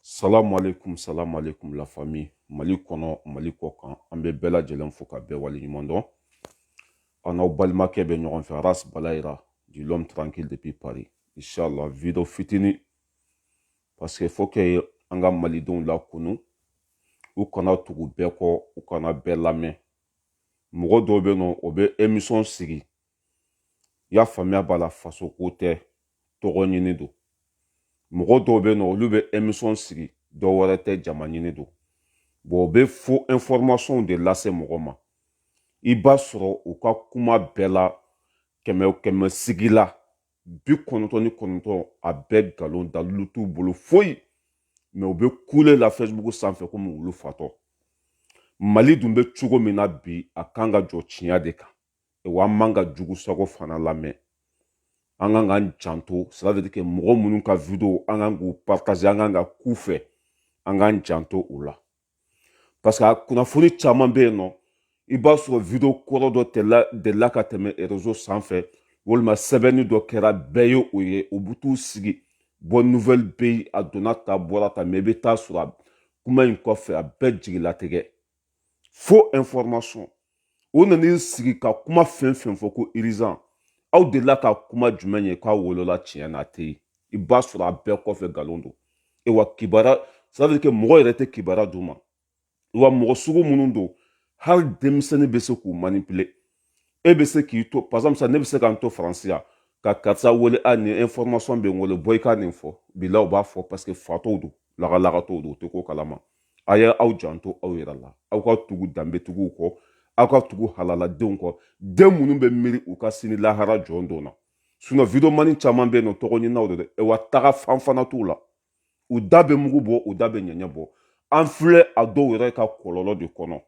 salamu aleykum salamu aleykum la famille mali kɔnɔ mali kɔkan an bɛ bɛɛ lajɛlen fo ka bɛɛ wale ɲuman dɔn an n'aw balimakɛ bɛ ɲɔgɔn fɛ aras balayira du l'homme tranquille depuis paris inshallah video fitini parce que faut que an ka malidenw lakunu u kana tugu bɛɛ kɔ u kana bɛɛ lamɛn mɔgɔ dɔw bɛ yen nɔ o bɛ emisɔn sigi y'a faamuya b'a la faso ko tɛ tɔgɔ ɲini don mɔgɔ dɔw bɛ yen nɔ olu bɛ emisɔn sigi dɔ wɛrɛ tɛ jama ɲini don bon u bɛ faux informationw de lase mɔgɔ ma i b'a sɔrɔ u ka kuma bɛɛ la kɛmɛ kɛmɛ sigi la bi kɔnɔntɔn ni kɔnɔntɔn a bɛɛ nkalon dalilu t'u bolo foyi mais u bɛ kule la fɛsibuku sanfɛ komi wulu fatɔ mali dun bɛ cogo min na bi a kan ka jɔ tiɲɛ de kan wa an man ka jugu sago fana lamɛn an kan k'an janto c'est-à-dire que mɔgɔ minnu ka video an kan k'u partager an kan ka k'u fɛ an k'an janto u la parce que a kunnafoni caman bɛ yen nɔ i b'a sɔrɔ video kɔrɔ dɔ delila ka tɛmɛ rezo sanfɛ walima sɛbɛnni dɔ kɛra bɛɛ ye o ye u bɛ t'u sigi bonne nouvelle bɛ yen a donna tan bɔra tan mais i bɛ taa sɔrɔ kuma in kɔfɛ a bɛɛ jigilatigɛ faux information o nan'i sigi ka kuma fɛn fɛn fɔ ko urgent aw delila ka kuma jumɛn ye k'a wolola tiɲɛ na a tɛ yen i b'a sɔrɔ a bɛɛ kɔfɛ nkalon don e wa kibaru c'est-à-dire que mɔgɔ yɛrɛ tɛ kibaru d'u ma wa mɔgɔ sugu minnu don hali denmisɛnnin bɛ se k'u manipuler e bɛ se k'i to par exemple ne bɛ se ka n to faransi yan ka karisa wele a nin information bɛ n wele bɔ i ka nin fɔ bila u b'a fɔ parce que fatɔw don lagalagatɔw don u tɛ ko kalama a ye aw janto aw yɛrɛ la aw ka tugu danbetigiw kɔ aw ka tugu halaladenw kɔ den minnu bɛ miiri u ka sini lahara jɔn don na sinon videomani caman bɛ yen nɔ tɔgɔ ɲininaw de dɛ wa tagafan fana t'u la u da bɛ mugu bɔ u da bɛ ɲɛɲɛ bɔ an filɛ a dɔw yɛrɛ ka kɔlɔlɔ de kɔnɔ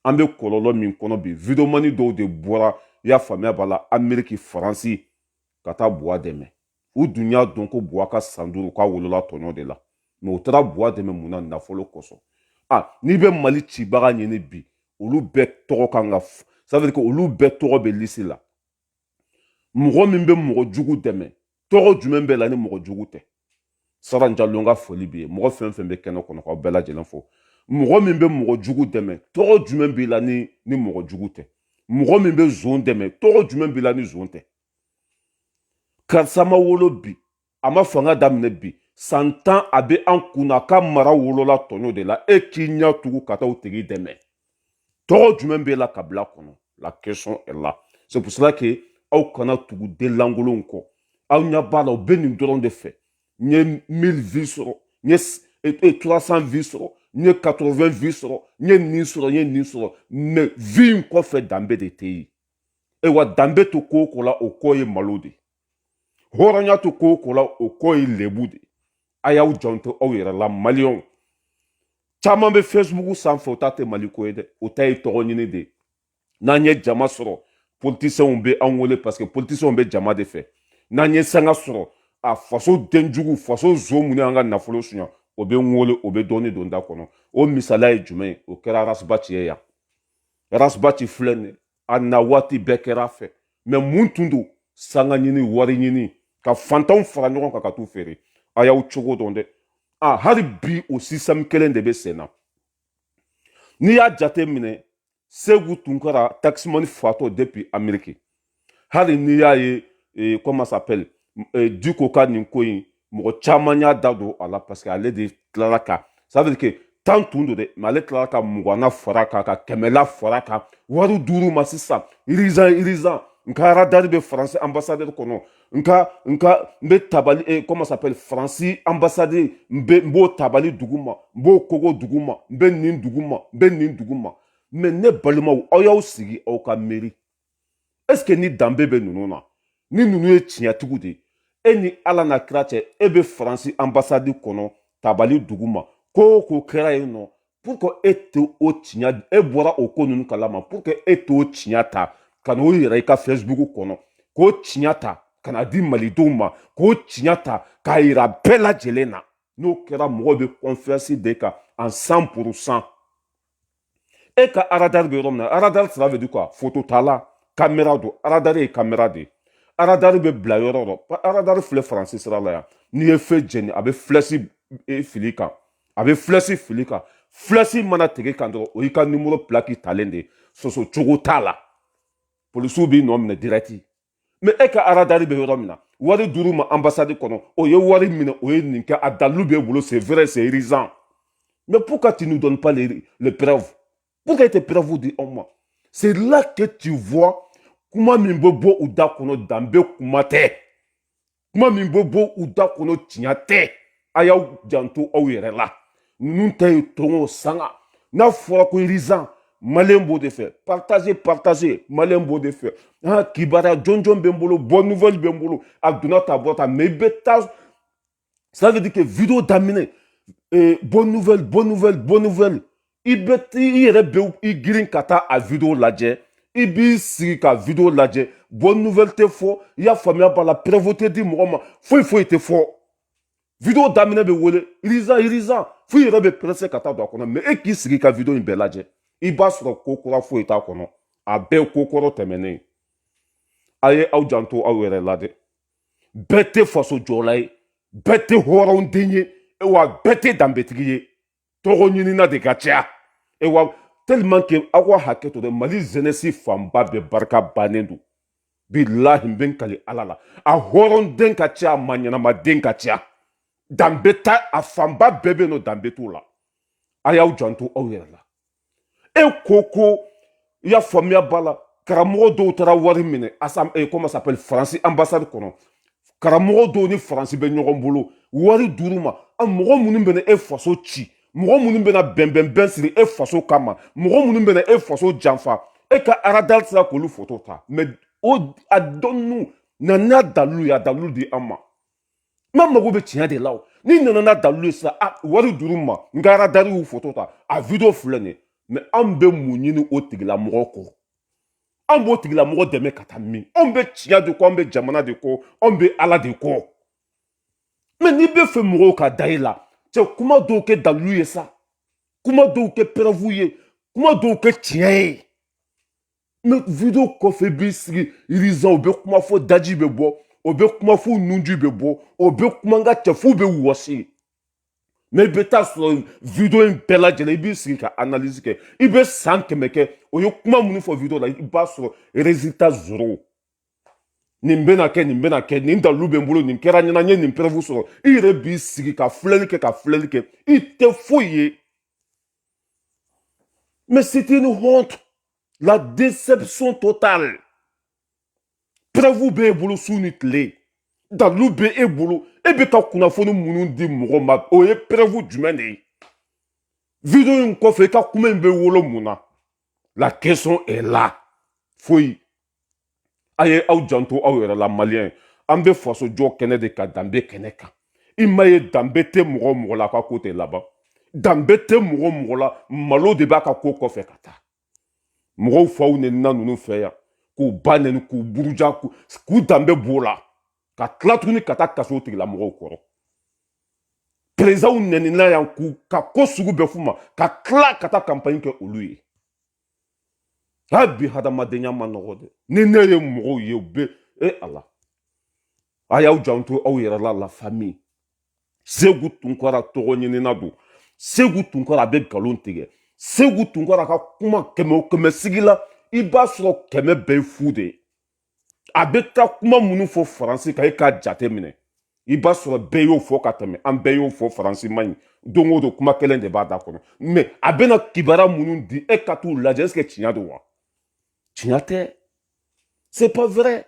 an bɛ kɔlɔlɔ min kɔnɔ bi videomani dɔw de bɔra i y'a faamuya b'a la ameriki faransi ka taa buwa dɛmɛ u dun y'a dɔn ko buwa ka san duuru k'a wolola tɔɲɔ de la mais u taara buwa dɛmɛ mun na nafolo kosɔn a n'i bɛ mali cibaga ɲini bi olu bɛɛ tɔgɔ kan ka ça veut dire que olu bɛɛ tɔgɔ bɛ lisi la mɔgɔ min bɛ mɔgɔ jugu dɛmɛ tɔgɔ jumɛn b'i la ni mɔgɔ jugu tɛ saran jalo ka foli bɛ yen mɔgɔ fɛn fɛn bɛ kɛnɛ kɔnɔ k'aw bɛɛ lajɛlen fo mɔgɔ min bɛ mɔgɔ jugu dɛmɛ tɔgɔ jumɛn b'i la ni ni mɔgɔ jugu tɛ mɔgɔ min bɛ zon dɛmɛ tɔgɔ jumɛn b'i la ni zon tɛ karisa ma wolo bi a ma fanga daminɛ bi san tan a bɛ an kun na ka mara wolola tɔɲɔ de la e k'i ɲɛ tugu ka taa o tigi dɛmɛ tɔgɔ jumɛn b'e la kabila kɔnɔ la question est là c'est pour cela que aw kana tugu den lankolonw kɔ aw ɲɛ b'a la u bɛ nin dɔrɔn de fɛ n ye 1000 vues sɔrɔ n ye 300 vues sɔrɔ n ye 80 vues sɔrɔ n ye nin sɔrɔ n ye nin sɔrɔ mais vues in kɔfɛ danbe de tɛ yen ayiwa danbe tɛ ko o ko la o kɔ ye malo de ye hɔrɔnya tɛ ko o ko la o kɔ ye lebu de a y'aw janto aw yɛrɛ la maliyɛnw caman bɛ fɛsibuku sanfɛ o ta tɛ mali ko ye dɛ o ta ye tɔgɔ ɲini de ye n'an ye jama sɔrɔ politisiyɛnw bɛ an wele parce que politisiyɛnw bɛ jama de fɛ n'an ye sanga sɔrɔ a faso denjugu faso zon min y'an ka nafolo suɲa o bɛ n wele o bɛ dɔɔni don da kɔnɔ o misaliya ye jumɛn ye o kɛra arasi baci ye yan arasi baci filɛ nin ye a na waati bɛɛ kɛra a fɛ mɛ mun tun don sanga ɲini wari ɲini ka fantanw fara ɲɔgɔn kan ka t'u feere a y'aw cogo dɔn dɛ a hali bi o sisɛmu kelen de bɛ sen na n'i y'a jate minɛ segu tunkara takisimani fatɔ depuis ameriki hali n'i y'a ye e, comment s'appelle e, diko ka nin ko in mɔgɔ caman y'a da don a la parce que ale de tilala ka ça veut dire que tan tun don dɛ mɛ ale tilala ka muganna fara kan ka kɛmɛla fara kan wari dir'u ma sisan urgent urgent n ka radari bɛ faransi ambasadɛri kɔnɔ n ka n ka n bɛ tabali eh, comment s'appelle faransi ambasadɛri n bɛ n b'o tabali dugu ma n b'o kogo dugu ma n bɛ nin dugu ma n bɛ nin dugu ma mɛ ne balimaw aw y'aw sigi aw ka miiri ɛseke ni danbe bɛ ninnu na ni ninnu ye tiɲɛtigiw de ye e ni ala n'a kira cɛ e bɛ faransi anbasadi kɔnɔ tabali dugu ma ko o ko kɛra yen nɔ pourquoi e tɛ o tiɲɛ e bɔra o ko ninnu kalama pourquoi e t'o tiɲɛ ta ka n'o yira i ka facebook kɔnɔ k'o tiɲɛ ta ka na di malidenw ma k'o tiɲɛ ta k'a yira bɛɛ lajɛlen na n'o kɛra mɔgɔw bɛ confiance d'e kan en 100 pourcent e ka aradari bɛ yɔrɔ min na aradari cela veut dire quoi fototala kamera don aradari ye kamera de ye aradari bɛ bila yɔrɔ o yɔrɔ aradari filɛ faransi sira la yan n'i ye feu jeni a bɛ filasi e, fili kan a bɛ filasi fili kan filasi mana tigɛ kan dɔrɔn o y'i ka nimoro pilaki talen de ye sɔsɔ cogo t'a la polisiw b'i nɔ minɛ dirɛti mɛ e ka aradari bɛ yɔrɔ min na wari dir'u ma anbasadi kɔnɔ o ye wari minɛ o ye nin kɛ a dalilu b'e bolo c'est vrai c'est urgent mais pourquoi tu nous donnes pas les, les preuves pourquoi i tɛ preuves di anw ma c'est là que tu vois kuma min bɛ bɔ u da kɔnɔ danbe kuma tɛ kuma min bɛ bɔ u da kɔnɔ tiɲɛ tɛ a y'aw janto aw yɛrɛ la ninnu ta ye tɔgɔ sanga n'a fɔra ko urgent malien b'o de fɛ partagez partagez malien b'o de fɛ ah, kibaruya jɔnjɔn bɛ n bolo bonne nouvelle bɛ n bolo a donna ta bɔ ta mais i bɛ taa ça veut dire que video daminɛ eh, bonne nouvelle bonne nouvelle bonne nouvelle i bɛ i yɛrɛ bɛ i girin ka taa a video lajɛ i b'i sigi ka video lajɛ bonne nouvelle tɛ fɔ i y'a faamuya b'a la preuve tɛ di mɔgɔ ma foyi foyi tɛ fɔ video daminɛ bɛ wele urgent urgent fo i yɛrɛ bɛ pressé ka taa don a kɔnɔ mais e k'i sigi ka video in bɛɛ lajɛ i b'a sɔrɔ ko kura foyi t'a kɔnɔ a bɛɛ ko kɔrɔ tɛmɛnen a ye aw janto aw yɛrɛ la dɛ bɛɛ tɛ faso jɔla ye bɛɛ tɛ hɔrɔnden ye wa bɛɛ tɛ danbetigi ye tɔgɔ ɲinina de ka ca e wa tellement que aw ka hakɛ to dɛ mali jeunesse fanba bɛɛ barika bannen don bilahi n bɛ n kali ala la a hɔrɔnden ka ca a maa ɲɛnama den ka ca danbe ta a fanba bɛɛ bɛ yen nɔ danbe t'o la a y'aw janto aw yɛrɛ la e ko ko i y'a faamuya ba la karamɔgɔ dɔw taara wari minɛ asam e comment s'appelle faransi ambassade kɔnɔ karamɔgɔ dɔw ni faransi bɛ ɲɔgɔn bolo wari dir'u ma a mɔgɔ minnu bɛna e faso ci mɔgɔ minnu bɛna bɛnbɛnbɛn siri e faso kama mɔgɔ minnu bɛna e faso janfa e ka aradari sera k'olu foto ta mais o a dɔnnu na n'a dalilu ye a dalilu di an ma n mago bɛ tiɲɛ de la o n'i nana n'a dalilu ye sisan a wari dir'u ma n ka aradari y'u foto ta a video filɛ nin ye mais anw bɛ mun ɲini o tigilamɔgɔ kɔ anw b'o tigilamɔgɔ dɛmɛ ka taa min anw bɛ tiɲɛ de kɔ anw bɛ jamana de kɔ anw bɛ ala de kɔ mais n'i bɛ fɛ mɔgɔw ka da i la cɛ kuma dɔw kɛ dalilu ye sa kuma dɔw kɛ preuve ye kuma dɔw kɛ tiɲɛ ye mais video kɔfɛ b'i sigi urgent o bɛ kuma fo daji bɛ bɔ o bɛ kuma fo nunji bɛ bɔ o bɛ kuma n ka cɛ f'o bɛ wɔsi mais i bɛ taa sɔrɔ video in bɛɛ lajɛlen i b'i sigi ka analyse kɛ i bɛ san kɛmɛ kɛ o ye kuma minnu fɔ video la i b'a sɔrɔ résultat zéro nin bɛna kɛ nin bɛna kɛ nin dalilu bɛ n bolo nin kɛra n ɲɛna n ye nin preuve sɔrɔ i yɛrɛ b'i sigi ka filɛli kɛ ka filɛli kɛ i tɛ foyi ye Mais c'est une honte. La déception totale. Preuve bɛ e bolo su ni tile. Dalilu bɛ e bolo. E bɛ ka kunnafoni minnu di mɔgɔ ma o ye preuve jumɛn de ye? Video in kɔfɛ i ka kuma in bɛ wolo mun na? la question est là foyi a ye aw janto aw yɛrɛ la maliyɛn an bɛ faso jɔ kɛnɛ de kan danbe kɛnɛ kan i ma ye danbe tɛ mɔgɔ mɔgɔ la a ka ko tɛ laban danbe tɛ mɔgɔ mɔgɔ la malo de b'a ka ko kɔfɛ ka taa mɔgɔw faw nɛnina ninnu fɛ yan k'u ba nɛni k'u buruja k'u danbe b'o la ka tila tuguni ka taa kas'o tigilamɔgɔw kɔrɔ perezidanw nɛnina yan k'u ka ko sugu bɛɛ f'u ma ka tila ka taa kanpaɲi kɛ olu ye hali bi hadamadenya man nɔgɔn dɛ ni ne ye mɔgɔw ye u bɛ e ala a y'aw janto aw yɛrɛ la la famille segu tunkara tɔgɔɲinina don segu tunkara a bɛ nkalon tigɛ segu tunkara ka kuma kɛmɛ o kɛmɛ sigi la i b'a sɔrɔ kɛmɛ bɛɛ ye fu de ye a bɛ taa kuma minnu fɔ faransi kan e k'a jate minɛ i b'a sɔrɔ bɛɛ y'o fɔ ka tɛmɛ an bɛɛ y'o fɔ faransi man ɲi don o don kuma kelen de b'a da kɔnɔ mais a bɛna kibara minnu di e ka t'u lajɛ est-ce que tiɲɛ don wa tiɲɛ tɛ c'est pas vrai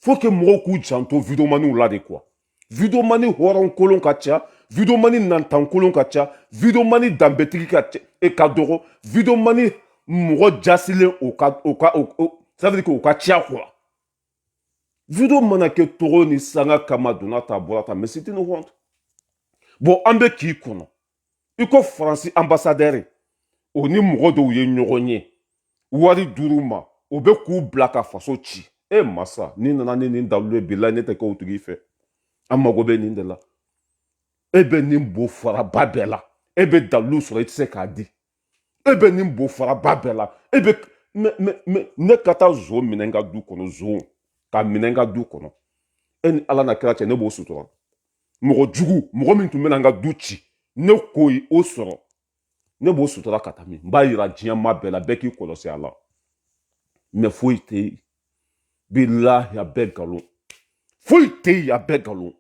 faut que mɔgɔw k'u janto videomaniw la de quoi videomani hɔrɔn kolon ka ca videomani nantan kolon ka ca videomani danbetigi ka ca e ka dɔgɔ videomani mɔgɔ jasilen o ka o ka o ça veut dire k'o ka ca quoi video mana kɛ tɔgɔ ni sanga kama donna ta bɔra ta mais c'était une honte bon an bɛ k'i kɔnɔ i ko faransi ambassadeur o ni mɔgɔ dɔw ye ɲɔgɔn ye wari d'olu ma o bɛ k'u bila ka faso ci e masa n'i nana ni nin dalu ye bilahi ne tɛ kɛ o tigi fɛ an mago bɛ nin de la e bɛ nin bo faraba bɛɛ la e bɛ dalu sɔrɔ i tɛ se k'a di e bɛ nin bo faraba bɛɛ la e bɛ mɛ mɛ mɛ ne ka taa zon minɛ n ka du kɔnɔ zon ka minɛ n ka du kɔnɔ e ni ala n'a kira cɛ ne b'o sutura mɔgɔ jugu mɔgɔ min tun bɛna n ka du ci ne k'o ye o sɔrɔ ne b'o sutura ka taa min n b'a yira diɲɛ maa bɛɛ la bɛɛ k'i kɔlɔsi a la mais foyi tɛ yen bilahi a bɛɛ nkalon foyi tɛ yen a bɛɛ nkalon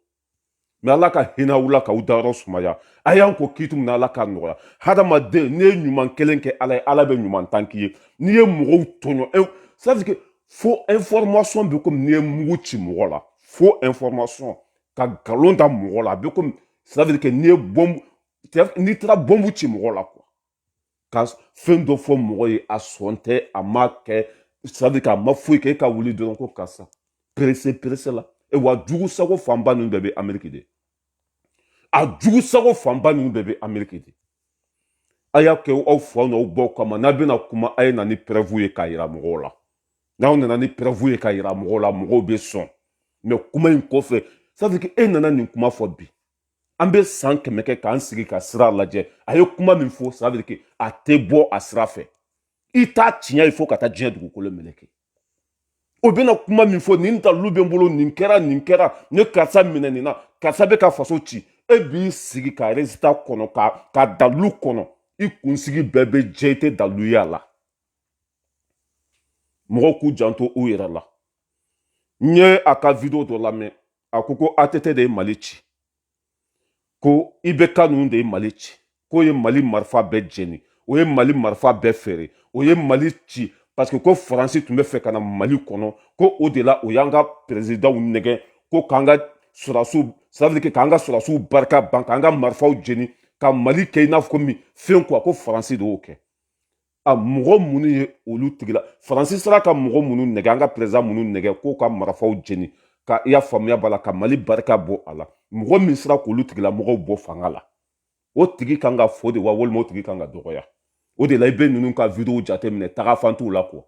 mais ala ka hinɛ aw la k'aw dayɔrɔ sumaya a y'an ko k'i tun na ala k'a nɔgɔya hadamaden n'i ye ɲuman kelen kɛ ala ye ala bɛ ɲuman tan k'i ye n'i ye mɔgɔw tɔɲɔ ça veut dire que faux information bɛ komi n'i ye mugu ci mɔgɔ la faux information ka nkalon da mɔgɔ la a bɛ komi ça veut dire que n'i ye bɔnbu n'i taara bɔnbu ci mɔgɔ la quoi ka fɛn dɔ fɔ mɔgɔ ye a sɔn tɛ a ma kɛ ça veut dire qu'a ma foyi kɛ e ka wuli dɔrɔn ko karisa perese perese la e wa jugu sago fanba ninnu bɛɛ bɛ ameriki de a jugu sago fanba ninnu bɛɛ bɛ ameriki de a y'a kɛ aw faw n'aw baw kama n'aw bɛna kuma a ye na ni preuve ye k'a yira mɔgɔw la n'aw nana ni preuve ye k'a yira mɔgɔw la mɔgɔw bɛ sɔn mais kuma in kɔfɛ sabu e nana nin kuma fɔ bi an bɛ san kɛmɛ kɛ k'an sigi ka sira lajɛ a ye kuma min fɔ ça veut dire que a tɛ bɔ a sira fɛ i t'a tiɲɛ ye fo ka taa diɲɛ dugukolo meleke o bɛna kuma min fɔ nin dalilu bɛ n bolo nin kɛra nin kɛra ne karisa minɛ nin na karisa bɛ ka faso ci e b'i sigi ka résultat kɔnɔ ka dalilu kɔnɔ i kunsigi bɛɛ bɛ jɛ i tɛ dalilu ye a la mɔgɔw k'u janto u yɛrɛ la n ye a ka video dɔ lamɛn a ko ko att de ye mali ci ko ibk ninnu de ye mali ci k'o ye mali marifa bɛɛ jeni o ye mali marifa bɛɛ feere o ye mali ci parce que ko faransi tun bɛ fɛ ka na mali kɔnɔ ko o de la o y'an ka peresidanw nɛgɛn ko k'an ka sɔrɔdasiw ça veut dire que k'an ka sɔrɔdasiw barika ban k'an ka marifaw jeni ka mali kɛ i n'a fɔ komi fɛn quoi ko faransi de y'o kɛ a mɔgɔ minnu ye olu tigila faransi sera ka mɔgɔ minnu nɛgɛ an ka peresidan minnu nɛgɛ k'o ka marafaw jeni ka i y'a faamuya b'a la ka mali barika bɔ a la mɔgɔ min sera k'olu tigilamɔgɔw bɔ fanga la o tigi kan ka fo de wa walima o tigi kan ka dɔgɔya o de la i bɛ ninnu ka video jateminɛ tagafan t'u la quoi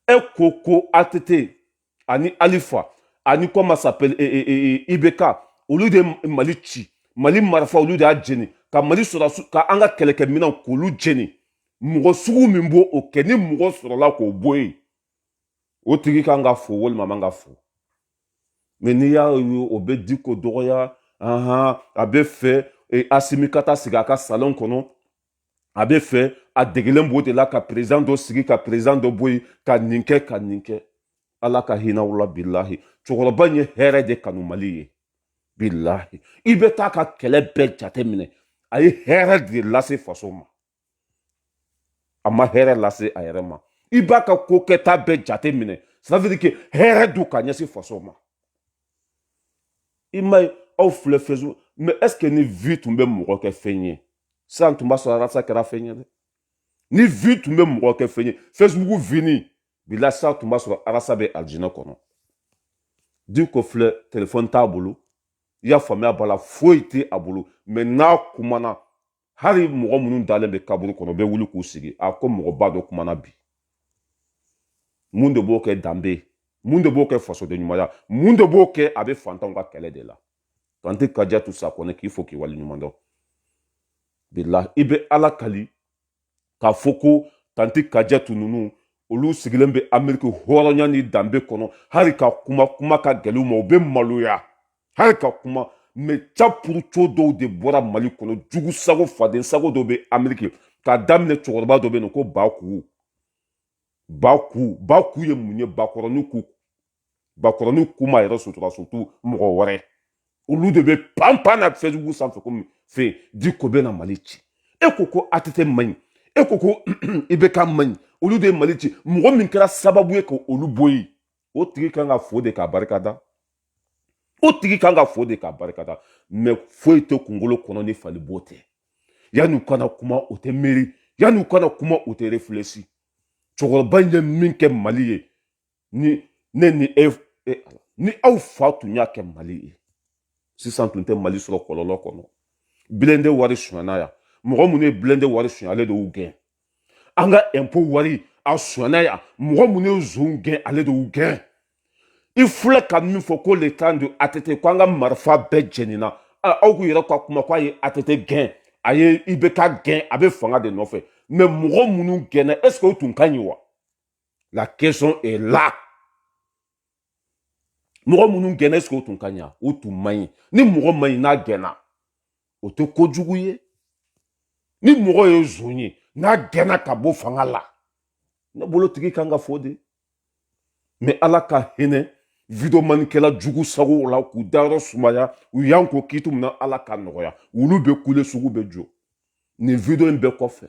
e ko ko att ani alifa ani comment s'appelle e, e, e, e ibk olu de ye mali ci mali marafa olu de y'a jeni ka mali sɔrɔdasi ka an ka kɛlɛkɛminɛn k'olu jeni mɔgɔ sugu min b'o o kɛ ni mɔgɔ sɔrɔla k'o bɔ yen o tigi kan ka fo walima man ka fo mais n'i y'a ye o bɛ diko dɔgɔya ahan a bɛ fɛ e, asimi ka taa sigi a ka salon kɔnɔ a bɛ fɛ a degelen b'o de la ka peresidan dɔ sigi ka peresidan dɔ bɔ yen ka nin kɛ ka nin kɛ ala ka hinɛ aw la bilahi cɛkɔrɔba in ye hɛrɛ de kanu mali ye bilahi i bɛ t'a ka kɛlɛ bɛɛ jate minɛ a ye hɛrɛ de lase faso ma a ma hɛrɛ lase a yɛrɛ ma i b'a ka ko kɛta bɛɛ jate minɛ ça veut dire que hɛrɛ don ka ɲɛsin faso ma i m'a ye aw filɛ facebook mais est-ce que ni vue tun bɛ mɔgɔ kɛ fɛn ye sisan tun b'a sɔrɔ arasa kɛra fɛn ye dɛ ni vue tun bɛ mɔgɔ kɛ fɛn ye facebook vini bila sisan tun b'a sɔrɔ arasa bɛ alijinɛ kɔnɔ diko filɛ telefɔni t'a bolo i y'a faamuya b'a la foyi tɛ a bolo mais n'a kumana hali mɔgɔ minnu dalen bɛ kaburu kɔnɔ bɛ wuli k'u sigi a ko mɔgɔba dɔ kumana bi mun de b'o kɛ danbe mun de b'o kɛ fasoden ɲumanya mun de b'o kɛ a bɛ fantanw ka kɛlɛ de la tanti kajatu sakɔnɛ k'i fo k'i wale ɲuman dɔn bilahi i bɛ ala kali k'a fɔ ko tanti kajatu ninnu olu sigilen bɛ ameriki hɔrɔnya ni danbe kɔnɔ hali ka kuma kuma ka gɛlɛn u ma u bɛ maloya hali ka kuma mais capuruco dɔw de bɔra mali kɔnɔ jugu sago faden sago dɔ bɛ ameriki k'a daminɛ cɛkɔrɔba dɔ bɛ yen ko baku baku baku ye mun ye bakɔrɔni ku bakɔrɔni ku ma yɛrɛ sutura surtout mɔgɔ wɛrɛ olu de bɛ panpan na Facebook sanfɛ komi fɛ di ko bɛ na mali ci e ko ko ATT man ɲi e ko ko IBK man ɲi olu de ye mali ci mɔgɔ min kɛra sababu ye ka olu bɔ yen o tigi kan ka fo de k'a barika da o tigi kan ka fo de k'a barika da mais foyi tɛ kunkolo kɔnɔ ni fali bo tɛ yanni u kana kuma o tɛ miiri yanni u kana kuma o tɛ réfléchi cɛkɔrɔba in ye min kɛ mali ye ni aw fa tun y'a kɛ mali ye sisan tun tɛ mali sɔrɔ kɔlɔlɔ kɔnɔ bilende wari sonyana yan mɔgɔ minnu ye bilende wari sonya ale de y'u gɛn an ka ɛnpo wari a sonyana yan mɔgɔ minnu ye zonw gɛn ale de y'u gɛn i filɛ ka min fɔ ko le temps de ATT ko an ka marifa bɛɛ jenina aw k'u yɛrɛ ka kuma ko a ye ATT gɛn a ye IBK gɛn a bɛ fanga de nɔfɛ mais mɔgɔ minnu gɛnna est ce que o tun ka ɲi wa la question est là mɔgɔ minnu gɛnna est ce que o tun ka ɲi wa o tun man ɲi ni mɔgɔ man ɲi n'a gɛnna o tɛ kojugu ye ni mɔgɔ ye zon ye n'a gɛnna ka bɔ fanga la ne bolo tigi kan ka fo de mais ala ka hinɛ videomanikɛla jugu sago la k'u dayɔrɔ sumaya u y'an ko kitu min na ala ka nɔgɔya olu bɛ kule sugu bɛ jɔ nin video in bɛɛ kɔfɛ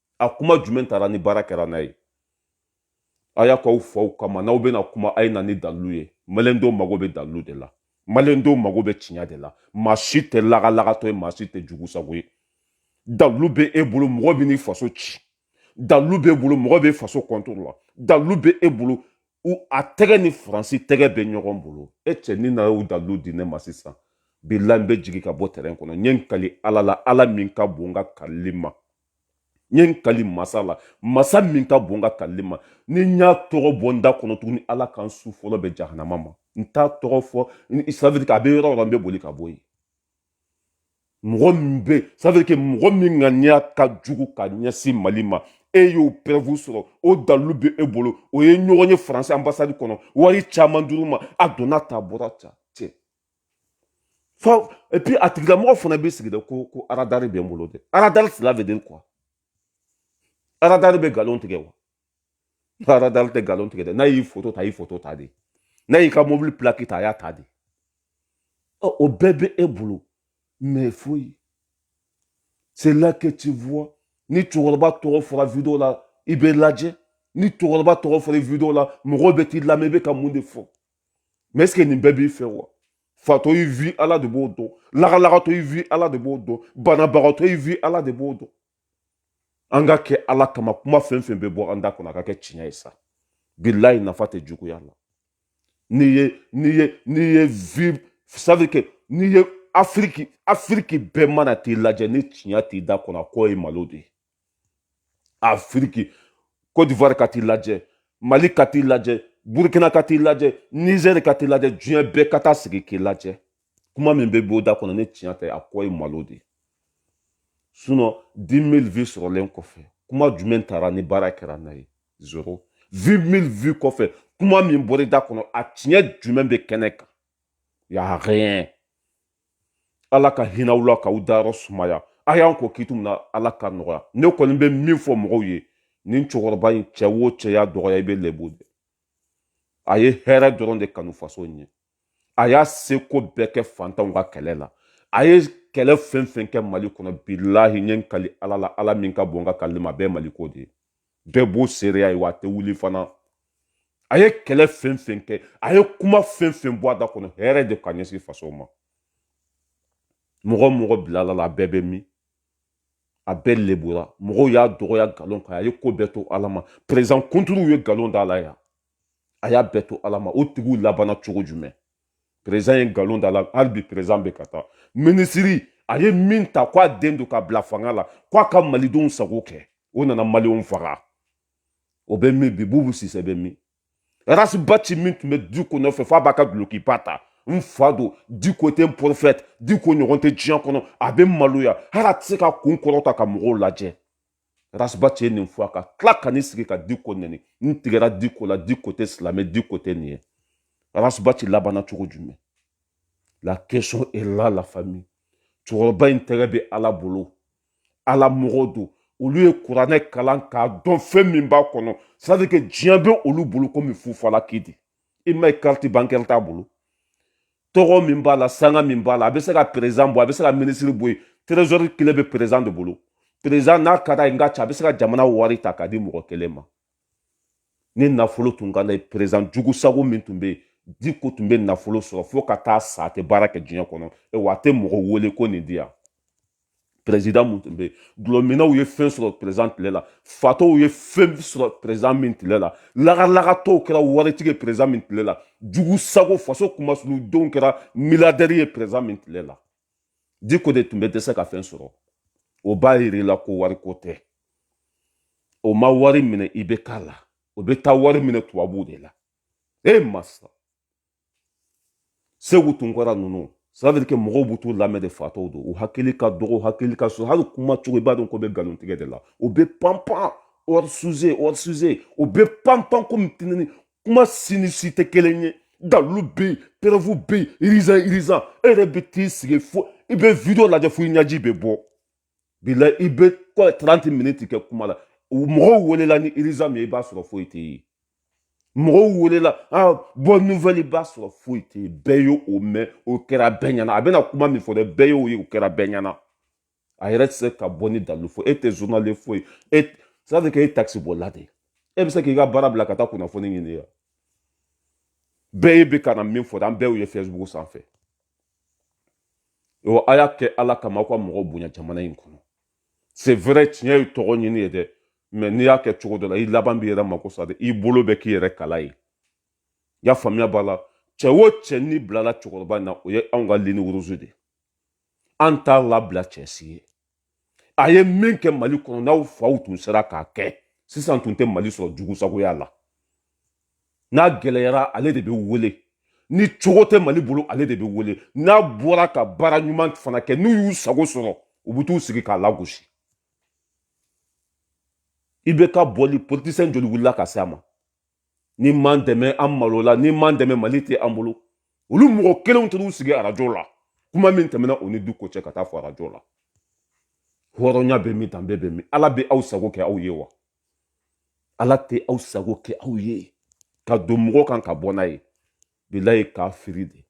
a kuma jumɛn taara ni baara kɛra n'a ye a y'a k'aw faw kama n'aw bɛna kuma a ye na ni dalilu ye maliyɛndenw mago bɛ dalilu de la maliyɛndenw mago bɛ tiɲɛ de la maa si tɛ lagalagatɔ ye maa si tɛ jugu sago ye dalilu bɛ e bolo mɔgɔ bɛ n'i faso ci dalilu b'e bolo mɔgɔ bɛ faso kɔntoro la dalilu bɛ e bolo a tɛgɛ ni faransi tɛgɛ bɛ ɲɔgɔn bolo e cɛ ni na y'o dalilu di ne ma sisan bilahi n bɛ jigin ka bɔ tɛrɛn kɔnɔ n ye n kali ala la ala min ka bon n ka kalili ma n ye n kali masa la masa min ka bon n ka kalili ma ni n y'a tɔgɔ bɔ n da kɔnɔ tuguni ala ka n su fɔlɔ bɛn jahanama ma n t'a tɔgɔ fɔ ça veut dire a bɛ yɔrɔ o yɔrɔ n bɛ boli ka bɔ yen mɔgɔ min bɛ ça veut dire que mɔgɔ min ŋaniya ka jugu ka ɲɛsin mali ma e y'o preuve sɔrɔ o dalilu bɛ e bolo o ye ɲɔgɔn ye faransi anbasadi kɔnɔ wari caman dir'u ma a donna tan bɔra tan cɛ et puis a tigilamɔgɔ fana b'i sigi dɛ ko ko aradari bɛ n bolo dɛ aradari cela veut dire quoi aradari bɛ nkalon tigɛ wa aradari tɛ nkalon tigɛ dɛ n'a y'i foto ta a y'i foto ta de n'a y'i ka mobili pilaki ta a y'a ta de ɔ o bɛɛ bɛ e bolo mais foyi c'est là que tu vois ni cɛkɔrɔba tɔgɔ fɔra video la i bɛ lajɛ ni cɛkɔrɔba tɔgɔ fɔra video la mɔgɔw bɛ t'i lamɛn i bɛ ka mun de fɔ mais est ce que nin bɛɛ b'i fɛ wa fatɔ y'i vue ala de b'o dɔn lagalagatɔ y'i vue ala de b'o dɔn banabagatɔ y'i vue ala de b'o dɔn an ka kɛ ala kama kuma fɛn fɛn bɛ bɔ an da kɔnɔ a ka kɛ tiɲɛ ye sa bilahi nafa tɛ juguya la n'i ye n'i ye n'i ye vue ça veut dire que n'i ye afiriki afiriki bɛɛ mana t'i lajɛ ni tiɲɛ t'i da kɔnɔ a kɔ ye malo de ye afiriki kodivuwari ka t'i lajɛ mali ka t'i lajɛ burukina ka t'i lajɛ nizɛri ka t'i lajɛ diɲɛ bɛɛ ka taa sigi k'i lajɛ kuma min bɛ bɔ i da kɔnɔ ni tiɲɛ tɛ a kɔ ye malo de ye sinon dix mille vues sɔrɔlen kɔfɛ kuma jumɛn tara ni baara kɛra n'a ye zoro vingt mille vues kɔfɛ kuma min bɔra i da kɔnɔ a tiɲɛ jumɛn bɛ kɛnɛ kan y a rien ala ka hinɛ u la k'u dayɔrɔ sumaya a y'an kɔn kiti min na ala ka nɔgɔya ne kɔni bɛ min fɔ mɔgɔw ye nin cɛkɔrɔba in cɛ o cɛ y'a dɔgɔya i bɛ lebu de a ye hɛrɛ dɔrɔn de kanu faso ɲɛ a y'a seko bɛɛ kɛ fantanw ka kɛlɛ la a ye kɛlɛ fɛn fɛn kɛ mali kɔnɔ bilahi n ye n kali ala la ala min ka bon ka kalili ma bɛɛ maliko de ye bɛɛ b'o seereya ye wa a tɛ wuli fana a ye kɛlɛ fɛn fɛn kɛ a ye kuma fɛn fɛn bɔ a da kɔnɔ hɛrɛ de ka ɲɛsin faso ma mɔgɔ mɔgɔ bilal'a la a bɛɛ bɛ min a bɛɛ lebura mɔgɔw y'a dɔgɔya nkalon kan a ye ko bɛɛ to ala ma perezidan kunturuw ye nkalon d'a la yan a y'a bɛɛ to ala ma o tigiw labanna cogo jumɛn perezidan ye nkalon d'a la hali bi perezidan bɛ ka taa minisiri a ye min ta k'a den don ka bila fanga la k'a ka malidenw sago kɛ o nana malidenw faga o bɛ min bi bubu sise bɛ min rasibati min tun bɛ diko nɔfɛ f'a b'a ka dulokiba ta n fa don diko tɛ n prophète diko ɲɔgɔn tɛ diɲɛ kɔnɔ a bɛ maloya hali a tɛ se ka kun kɔrɔta ka mɔgɔw lajɛ rasibati ye nin fɔ a ka tila ka n'i sigi ka diko nɛni n tigɛra diko la diko tɛ silamɛ diko tɛ nin ye rasibati labanna cogo jumɛn la question est là la famille cɛkɔrɔba in tɛgɛ bɛ ala bolo ala mɔgɔ don olu ye kuranɛ kalan k'a dɔn fɛn min b'a kɔnɔ c'est à dire que diɲɛ bɛ olu bolo komi fufalaki de i m'a ye carte bancaire t'a bolo tɔgɔ min b'a la sanga min b'a la a bɛ se ka perezidan bɔ a bɛ se ka minisiri bɔ yen trezɔri kile bɛ perezidan de bolo perezidan n'a ka d'a ye n ka ca a bɛ se ka jamana wari ta k'a di mɔgɔ kelen ma ni nafolo tun ka d'a ye perezidan jugu sago min tun bɛ yen diko tun bɛ nafolo sɔrɔ fo ka taa sa a tɛ baara kɛ diɲɛ kɔnɔ wa a tɛ mɔgɔ wele ko nin di yan perezidan min tun bɛ yen dɔlɔminnaw ye fɛn sɔrɔ perezidan tile la fatɔw ye fɛn sɔrɔ perezidan min tile la lagalagatɔw kɛra waritigi ye perezidan min tile la jugu sago faso kumasuludenw kɛra miliyaridɛri ye perezidan min tile la diko de tun bɛ dɛsɛ ka fɛn sɔrɔ o b'a yira i la ko wariko tɛ o ma wari minɛ i bɛ k'a la o bɛ taa wari minɛ tubabuw de la e masa segu tunkara ninnu ça veut dire que mɔgɔw b'u t'u lamɛn de fatɔw don u hakili ka dɔgɔ hakili ka so hali kuma cogo i b'a dɔn k'u bɛ nkalon tigɛ de la u bɛ panpan hors sujet hors sujet u bɛ panpan komi tinini kuma si ni si tɛ kelen ye dalilu bɛ yen preuve bɛ yen irizan irizan e yɛrɛ bɛ t'i sigi fo i bɛ video lajɛ fo i ɲɛji bɛ bɔ bi la i bɛ taranti miniti kɛ kuma la mɔgɔw welela ni irizan min ye i b'a sɔrɔ foyi tɛ yen mɔgɔw welela ah, bonne nouvelle i b'a sɔrɔ foyi tɛ yen bɛɛ y'o mɛn o kɛra bɛɛ ɲɛna a bɛna kuma min fɔ dɛ bɛɛ y'o ye o kɛra bɛɛ ɲɛna a yɛrɛ tɛ se ka bɔ ni dalilu fɔ e tɛ journaliste foyi ça veut dire que e takisi bolila de e bɛ se k'i ka baara bila ka taa kunnafoni ɲini yan bɛɛ ye bɛ ka na min fɔ dɛ an bɛɛ y'o ye fɛsibugu sanfɛ o a y'a kɛ ala kama aw ka mɔgɔ bonya jamana in kɔnɔ c'est vrai diɲɛ ye tɔgɔ ɲini ye dɛ mɛ n'i y'a kɛ cogo dɔ la i laban b'i yɛrɛ mako sa de i bolo bɛ k'i yɛrɛ kala ye y'a faamuya b'a la cɛ o cɛ n'i bilala cɛkɔrɔba in na o ye anw ka ligne rouge de ye an t'a labila cɛ si ye a ye min kɛ mali kɔnɔ n'aw faw tun sera k'a kɛ sisan tun tɛ mali sɔrɔ jugu sagoya la n'a gɛlɛyara ale de bɛ wele ni cogo tɛ mali bolo ale de bɛ wele n'a bɔra ka baara ɲuman fana kɛ n'u y'u sago sɔrɔ u bɛ t'u sigi k'a lagosi IBK bɔli politisɛn joli wulila ka se a ma n'i m'an dɛmɛ an malola n'i m'an dɛmɛ mali tɛ an bolo olu mɔgɔ kelenw taar'u sigi arajo la kuma min tɛmɛna u ni diko cɛ ka taa fɔ arajo la hɔrɔnya bɛ min danbe bɛ min ala bɛ aw sago kɛ aw ye wa ala tɛ aw sago kɛ aw ye ka don mɔgɔ kan ka bɔ n'a ye bilayi kafiri de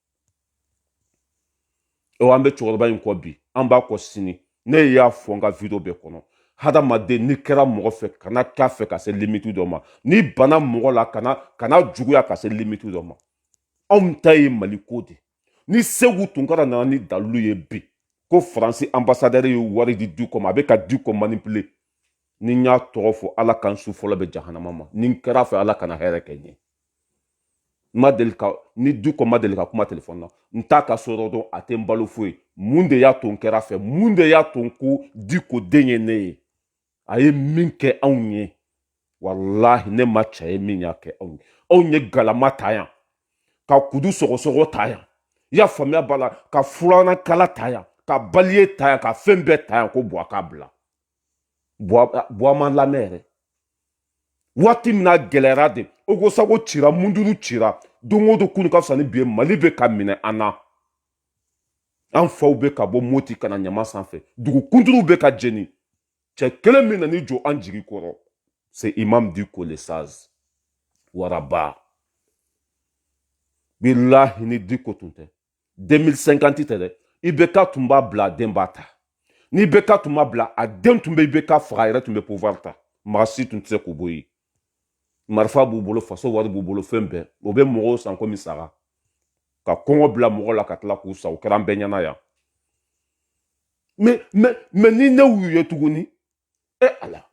o an bɛ cɛkɔrɔba in kɔ bi an b'a kɔ sini ne y'a fɔ n ka video bɛɛ kɔnɔ hadamaden n'i kɛra mɔgɔ fɛ kana k'a fɛ ka se limiti dɔ ma n'i bana mɔgɔ la kana juguya ka se limiti dɔ ma anw ta ye mali ko de ni segu tunkara nana ni dalilu ye bi ko faransi anbasadɛri ye wari di diko ma a bɛ ka diko manipule ni n y'a tɔgɔ fɔ ala ka n su fɔlɔ bɛn jahanama ma ni n kɛr'a fɛ ala kana hɛrɛ kɛ n ye n ma deli ka ni diko ma deli ka kuma telefɔni na n t'a ka so dɔn a tɛ n balo foyi mun de y'a to n kɛr'a fɛ mun de y'a to n ko diko den ye ne ye a ye min kɛ anw ye walahi ne ma cɛ ye min y'a kɛ anw ye anw ye galama ta yan ka kudu sɔgɔsɔgɔ ta yan i y'a faamuya b'a la ka furanan kala ta yan ka balai ta yan ka fɛn bɛɛ ta yan ko buwa k'a bila buwa ma lamɛn yɛrɛ waati min na gɛlɛyara de ogosagu cira munduru cira don o don kunu ka fisa ni bi ye mali bɛ ka minɛ an na an faw bɛ ka bɔ moti ka na ɲama sanfɛ dugu kunturuw bɛ ka jeni cɛ kelen min nan'i jɔ an jigi kɔrɔ c'est imam diko le sage waraba bilahi ni diko tun tɛ 2050 tɛ dɛ ibk tun b'a bila a den b'a ta ni ibk tun m'a bila a den tun bɛ ibk faga a yɛrɛ tun bɛ pouvoir ta maa si tun tɛ se k'u bɔ yen marifa b'u bolo faso wari b'u bolo fɛn bɛɛ o bɛ mɔgɔw san komi saga ka kɔngɔ bila mɔgɔ la ka tila k'u san o kɛra an bɛɛ ɲɛna yan mais mais mais ni ne y'u ye tuguni e ala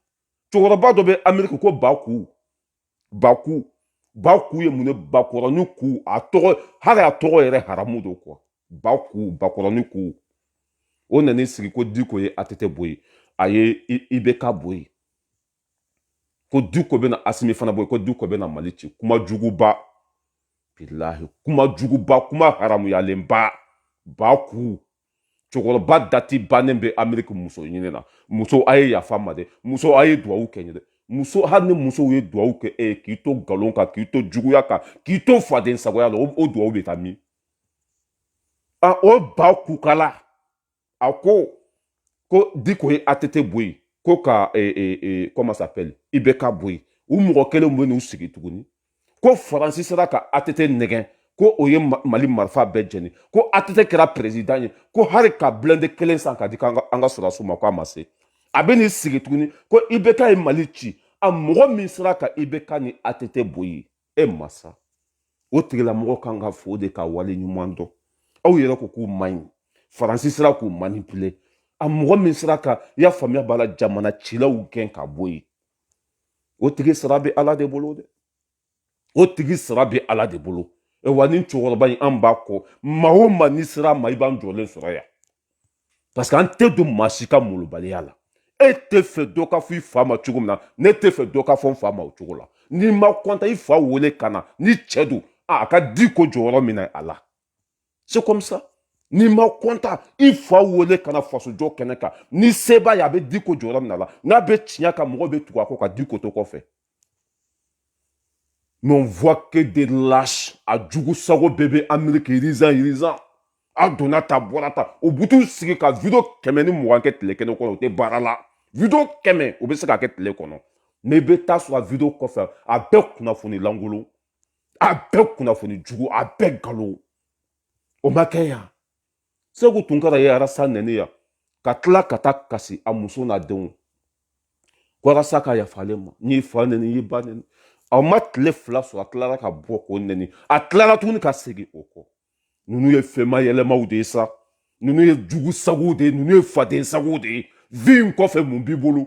cɛkɔrɔba dɔ bɛ ameriki ko baku baku baku ye mun ye bakɔrɔni ku a tɔgɔ hali a tɔgɔ yɛrɛ haramu don quoi baku bakɔrɔni ku o nan'i sigi ko diko ye atete bɔ yen a ye ibk bɔ yen ko diko bɛna asimi fana bɔ yen ko diko bɛna mali ci kuma juguba bilahi kuma juguba kuma haramuyalenba baku cɛkɔrɔba dati bannen bɛ ameriki muso ɲini na muso a ye yafa n ma dɛ muso a ye duwawu kɛ n ye dɛ muso hali ni musow ye duwawu kɛ e k'i to nkalon kan k'i to juguya kan k'i to faden sagoya la o duwawu bɛ taa min a o baku kala a ko ko diko ye atete bɔ yen ko ka e, e, e, comment s'appelle ibk bɔ yen u mɔgɔ kelen bɛ n'u sigi tuguni ko faransi sera ka atete nɛgɛn ko o ye mali marifa bɛɛ jeni ko atete kɛra perezidan ye ko hali ka blende kelen san ka di an ka sɔrɔdasiw ma ko a ma se a bɛ n'i sigi tuguni ko ibk ye mali ci a mɔgɔ min sera ka ibk ni atete bɔ yen e masa o tigilamɔgɔ kan ka fo de ka wale ɲuman dɔn aw yɛrɛ ko k'u man ɲi faransi sera k'u manipule a mɔgɔ min sera ka i y'a faamuya b'a la jamana cilaw gɛn ka bɔ yen o tigi sara bɛ ala de bolo dɛ o tigi sara bɛ ala de bolo e wa nin cɛkɔrɔba in an b'a kɔ maa o maa n'i ser'a ma i b'an jɔlen sɔrɔ yan parce que an tɛ don maa si ka molobaliya la e t'a fɛ dɔ k'a fɔ i fa ma cogo min na ne t'a fɛ dɔ k'a fɔ n fa ma o cogo la n'i ma kɔntan i fa wele ka na ni cɛ don a ka diko jɔyɔrɔ minɛ a la c'est comme ça n'i ma kɔntan i fa wele ka na fasojɔ kɛnɛ kan ni seba ye a bɛ diko jɔyɔrɔ mina a la n'a bɛ tiɲɛ kan mɔgɔ bɛ tugu a kɔ ka diko to kɔfɛ mais on voit que des lâches a jugu sago bɛɛ bɛ amérique irizan irizan a donna ta bɔra ta u butu sigi ka video kɛmɛ ni mugan kɛ tile kelen kɔnɔ u tɛ baara la video kɛmɛ u bɛ se ka kɛ tile kɔnɔ mais i bɛ taa sɔrɔ a video kɔfɛ a bɛɛ kunnafoni lankolon a bɛɛ kunnafoni jugu a bɛɛ nkalon o ma kɛ yan segu tunkara ye arasa nɛni yan ka tila ka taa kasi a muso n'a denw ko arasa ka yafa ale ma n'i fa nɛni n'i ba nɛni a ma tile fila sɔrɔ a tilara ka bɔ k'o nɛni a tilara tuguni ka segin o kɔ ninnu ye fɛnma yɛlɛmaw de ye sa ninnu ye jugu sagow de ye ninnu ye faden sagow de ye vue in kɔfɛ mun b'i bolo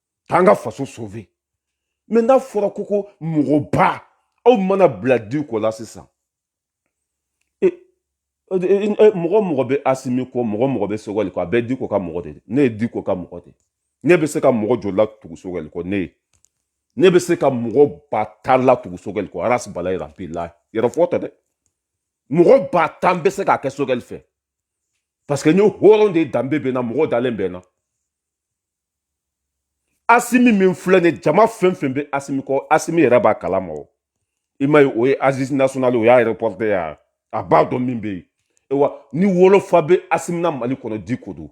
k'an ka faso sauver mais n'a fɔra ko ko mɔgɔba aw mana bila diko la sisan e, e, e, mɔgɔ mɔgɔ bɛ asimi kɔ mɔgɔ mɔgɔ bɛ sogɛli kɔ a bɛɛ diko ka mɔgɔ de ne ye diko ka mɔgɔ de ne bɛ se ka mɔgɔ joli latugu sogɛli kɔ ne ye ne bɛ se ka mɔgɔ ba tan latugu sogɛli kɔ arasi bala yɛrɛ bilahi yɛrɛfɔ tɛ dɛ mɔgɔ ba tan bɛ se k'a kɛ sogɛli fɛ parce que n ye hɔrɔn de danbe bɛ n na mɔgɔ dalen bɛ n na asimi min filɛ nin jama fɛn fɛn bɛ asimi kɔ asimi yɛrɛ b'a kalama o i ma ye o ye aziz national o y'a reporter ye a b'a dɔn min bɛ yen ewa ni wolofa bɛ asimi na mali kɔnɔ diko don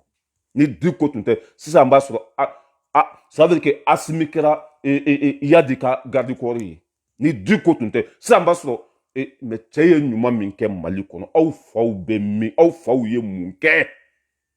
ni diko tun tɛ sisan b'a sɔrɔ a a ça veut dire que asimi kɛra e, e, e, yadi ka garde corps ye ni diko tun tɛ sisan b'a sɔrɔ e, mais cɛ ye ɲuman min kɛ mali kɔnɔ aw faw bɛ min aw faw ye mun kɛ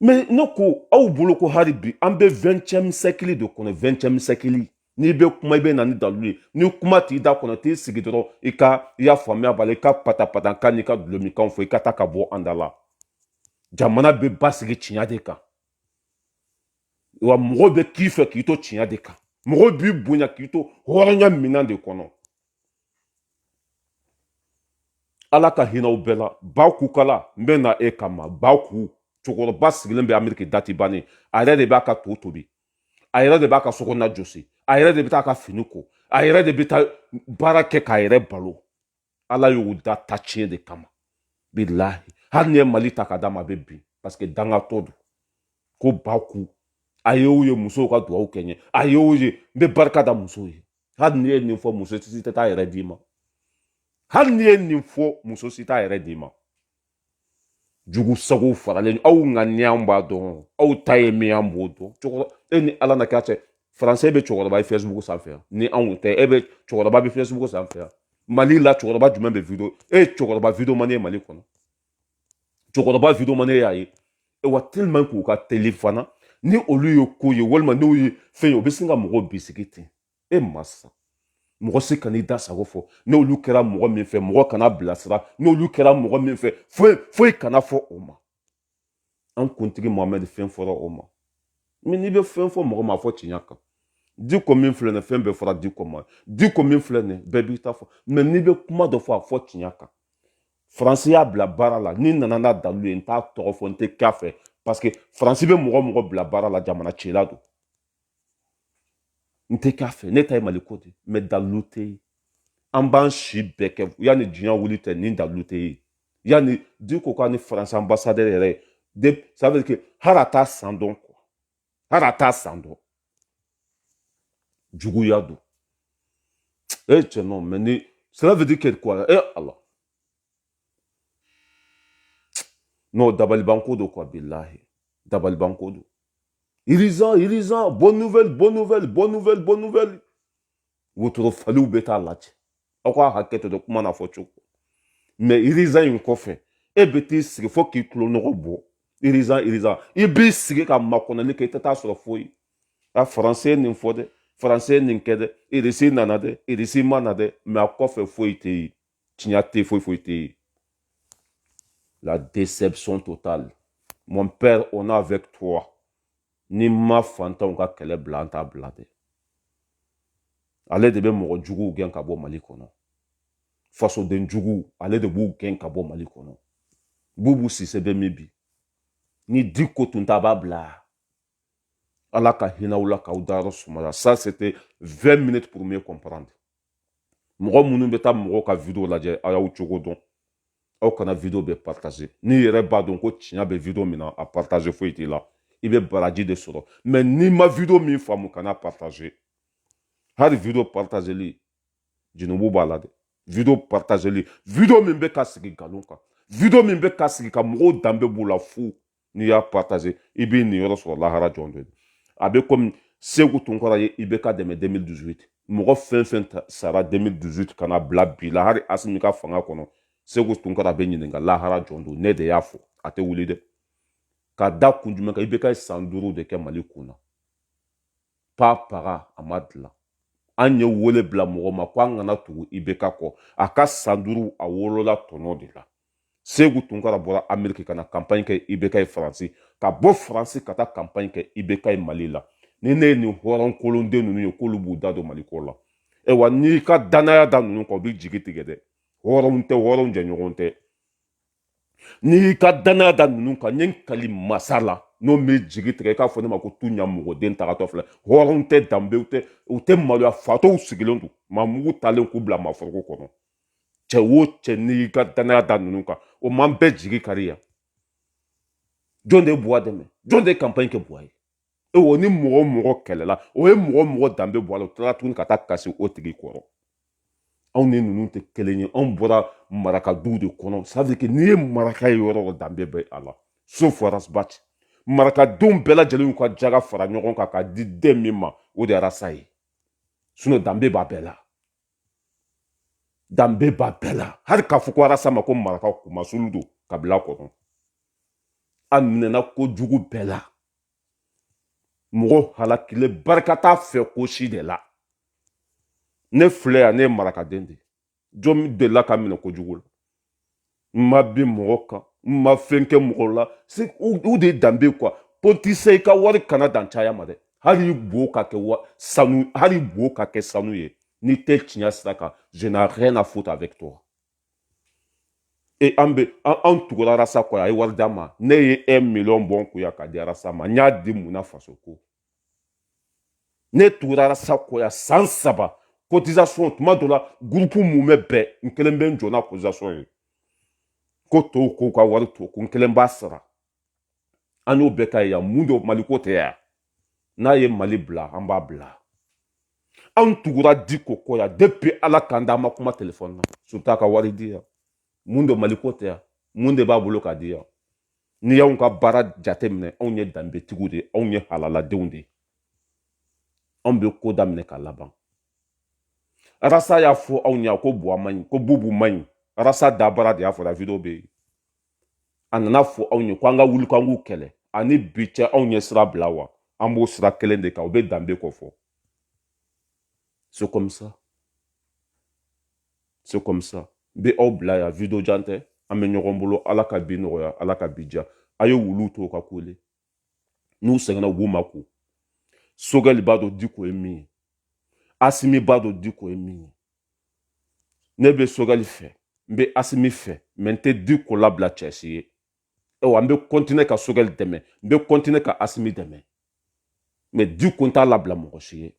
mais ne ko aw bolo ko hali bi an bɛ vingtième siècle de kɔnɔ vingtième siècle n'i bɛ kuma i bɛ na ni dalilu ye ni kuma t'i da kɔnɔ t'i sigi dɔrɔn i ka i y'a faamuya b'a la i ka patapata kan n'i ka dulɔminkanw fɔ i ka taa ka bɔ an da la jamana bɛ basigi tiɲɛ de kan wa mɔgɔw bɛ k'i fɛ k'i to tiɲɛ de kan mɔgɔw b'i bonya k'i to hɔrɔnya minan de kɔnɔ ala ka hinɛ aw bɛɛ la baku kala n bɛ na e kama baku cɛkɔrɔba sigilen bɛ ameriki date bannen a yɛrɛ de b'a ka to tobi a yɛrɛ de b'a ka sokɔnɔna jɔsi a yɛrɛ de bɛ taa ka fini ko a yɛrɛ de bɛ taa baara kɛ k'a yɛrɛ balo ala y'o da ta tiɲɛ de kama bilahi hali n'i ye mali ta ka d'a ma a bɛ bin parce que dangatɔ don ko baku a y'o ye musow ka dugawu kɛ n ye a y'o ye n bɛ barika da musow ye hali n'i ye nin fɔ muso si t'a yɛrɛ d'i ma hali n'i ye nin fɔ muso si t'a yɛrɛ d'i ma jugu sago faralen aw ŋaniya b'a dɔn aw ta ye min an b'o dɔn cɛkɔrɔba e ni ala na k'a cɛ faransɛ bɛ cɛkɔrɔba ye facebook sanfɛ yan ni anw tɛ e bɛ cɛkɔrɔba bɛ facebook sanfɛ yan mali la cɛkɔrɔba jumɛn bɛ video e ye cɛkɔrɔba video man ye mali kɔnɔ cɛkɔrɔba video man e y'a ye wa tellement k'u ka teli fana ni olu ye ko ye walima n'u ye fɛn ye o bɛ sin ka mɔgɔ bisigi ten e masa mɔgɔ si kan'i da sago fɔ n'olu kɛra mɔgɔ min fɛ mɔgɔ kana bilasira n'olu kɛra mɔgɔ min fɛ foyi foyi kana fɔ o ma an kuntigi mohamɛdi fɛn fɔra o ma n'i bɛ fɛn fɔ mɔgɔ ma a fɔ tiɲɛ kan diko min filɛ nin fɛn bɛɛ fɔra diko ma diko min filɛ nin bɛɛ b'i ta fɔ mais n'i bɛ kuma dɔ fɔ a fɔ tiɲɛ kan faransi y'a bila baara la n'i nana n'a dalilu ye n t'a tɔgɔ fɔ n tɛ k'a fɛ parce que faransi bɛ mɔgɔ mɔgɔ bila baara la jamana cila don n tɛ k'a fɛ ne ta ye maliko de mais dalilu tɛ yen an b'an si bɛɛ kɛ yanni diɲɛ wuli tɛ ni dalilu tɛ yen yanni diko k'a ni faransi ambassadeur yɛrɛ ye de ça veut dire que hali a t'a san dɔn quoi hali a t'a san dɔn juguya don e cɛ non mais ni cela veut dire que quoi e ala non dabalibanko don quoi bilahi dabalibanko don urgent urgent bonne nouvelle bonne nouvelle bonne nouvelle bonne nouvelle wotoro faliw bɛ taa lajɛ aw ka hakɛ to dɔ kuma na fɔ cogo mais urgent in kɔfɛ e bɛ t'i sigi fo k'i tulo nɔgɔ bɔ urgent urgent i b'i sigi ka makɔnɔli kɛ i tɛ taa sɔrɔ foyi a faransi ye nin fɔ dɛ faransi ye nin kɛ dɛ irisi nana dɛ irisi ma na dɛ mais a kɔfɛ foyi tɛ yen tiɲɛ tɛ foyi foyi tɛ yen la déception totale mon père on est avec toi n'i ma fantanw ka kɛlɛ bila an t'a bila dɛ ale de bɛ mɔgɔ juguw gɛn ka bɔ mali kɔnɔ fasoden juguw ale de b'u gɛn ka bɔ mali kɔnɔ bubu sise bɛ min bi ni diko tun ta b'a bila ala ka hinɛ aw la k'aw dayɔrɔ sumaya ça c'était 20 minutes pour mieux comprendre mɔgɔ minnu bɛ taa mɔgɔw ka video lajɛ a y'aw cogo dɔn aw kana video bɛɛ partager n'i yɛrɛ b'a dɔn ko tiɲɛ bɛ video min na a partager foyi t'i la i bɛ baraji de sɔrɔ mais n'i ma video min faamu kana partager hali video partageli junubu b'a la dɛ video partageli video min bɛ ka sigi nkalon kan video min bɛ ka sigi ka mɔgɔw danbe b'u la fu n'i y'a partager i b'i niyɔrɔ sɔrɔ lahara jɔ don a bɛ komi seku tunkara ye ibeka dɛmɛ 2018 mɔgɔ fɛn fɛn sara 2018 ka na bila bi la hali asimi ka fanga kɔnɔ seku tunkara bɛ ɲininka lahara jɔ don ne de y'a fɔ a tɛ wuli dɛ ka da kun jumɛn kan ibeka san duuru de kɛ mali kunna pa paga a ma dilan an ye wele bila mɔgɔ ma ko an kana tugu ibeka kɔ a ka san duuru a wolola tɔnɔ de la seku tunkara bɔra ameriki ka na kanpaɲi kɛ ibeka ye faransi ka bɔ faransi ka taa kanpaɲi kɛ ibeka ye mali la ni ne ye nin hɔrɔn kolonden ninnu ye k'olu b'u da don mali ko la ayiwa n'i ka dannaya da ninnu kan u b'i jigi tigɛ dɛ hɔrɔnw tɛ hɔrɔnw jɛɲɔgɔn tɛ n'i y'i ka dannaya da ninnu kan n ye n kali masa la n'o m'i jigi tigɛ i k'a fɔ ne ma ko tu ɲamɔgɔden tagatɔ filɛ hɔrɔnw tɛ danbew tɛ u tɛ maloya fatɔw sigilen don maa mugu talen k'u bila manaforoko kɔnɔ cɛ o cɛ n'i ka dannaya da ninnu kan o ma bɛɛ jigi kari yan jɔn de ye buwa dɛmɛ jɔn de ye kanpaɲi kɛ buwa ye e o ni mɔgɔ o mɔgɔ kɛlɛla o ye mɔgɔ mɔgɔ danbe bɔ a la o tilala tuguni ka taa kasi o tigi kɔrɔ anw ni ninnu tɛ kelen ye anw bɔra maraka duw de kɔnɔ ça veut dire que n'i ye maraka ye yɔrɔ o danbe bɛ a la sauf arasabati marakadenw bɛɛ lajɛlen y'u ka jaga fara ɲɔgɔn kan k'a di den min ma o de ye arasa ye sinon danbe b'a bɛɛ la danbe b'a bɛɛ la hali k'a fɔ ko arasa ma ko maraka kumasulu don kabila kɔnɔ a minɛna kojugu bɛɛ la mɔgɔ halakile barika t'a fɛ ko si de la ne filɛ yan ne ye marakaden de jɔn delila ka minɛ kojugu la n ma bin mɔgɔ kan n ma fɛn kɛ mɔgɔ la o de ye danbe quoi politicien i ka wari kana dan caya ma dɛ hali bo ka kɛ wa sanu hali bo ka kɛ sanu ye n'i tɛ tiɲɛ sira kan je n'ai rien à foutre avec toi e an bɛ an tugura arasa kɔ a ye wari d'a ma ne ye un million bɔ n kun yan k'a di arasa ma n y'a di mun na faso ko ne tugura arasa kɔ yan san saba cotisation tuma dɔ la gurupu mumɛ bɛɛ n kelen bɛ n jɔ n'a cotisation ye ko tɔw k'u ka wari to ko n kelen b'a sara an y'o bɛɛ k'a ye yan mun don maliko tɛ yan n'a ye mali bila an b'a bila anw tugura diko kɔ yan depuis ala k'an da an ma kuma telefɔni na surtout a ka wari di yan mun don maliko tɛ yan mun de b'a bolo k'a di yan n'i y'anw ka baara jateminɛ anw ye danbetigiw de ye anw ye halaladenw de ye anw bɛ ko daminɛ ka laban arasa y'a fɔ anw ye ko buwa man ɲi ko bubu man ɲi arasa dabara de y'a fɔ video bɛ yen a nana fɔ anw ye ko an ka wuli k'an k'u kɛlɛ a ni bi cɛ anw ye sira bila wa an b'o sira kelen de kan o bɛ danbe kofɔ c'est comme ça se kɔmisa n bɛ aw bila yan video jan tɛ an bɛ ɲɔgɔn bolo ala ka bi nɔgɔya ala ka bi diya a ye wuluw to ka kule n'u sɛgɛnna u b'u makun sogɛli b'a dɔn diko ye min ye asimi b'a dɔn diko ye min ye ne bɛ sogɛli fɛ n bɛ asimi fɛ mɛ n tɛ diko labila cɛ si ye ayiwa n bɛ kɔntine ka sogɛli dɛmɛ n bɛ kɔntine ka asimi dɛmɛ mɛ diko n t'a labila mɔgɔ si ye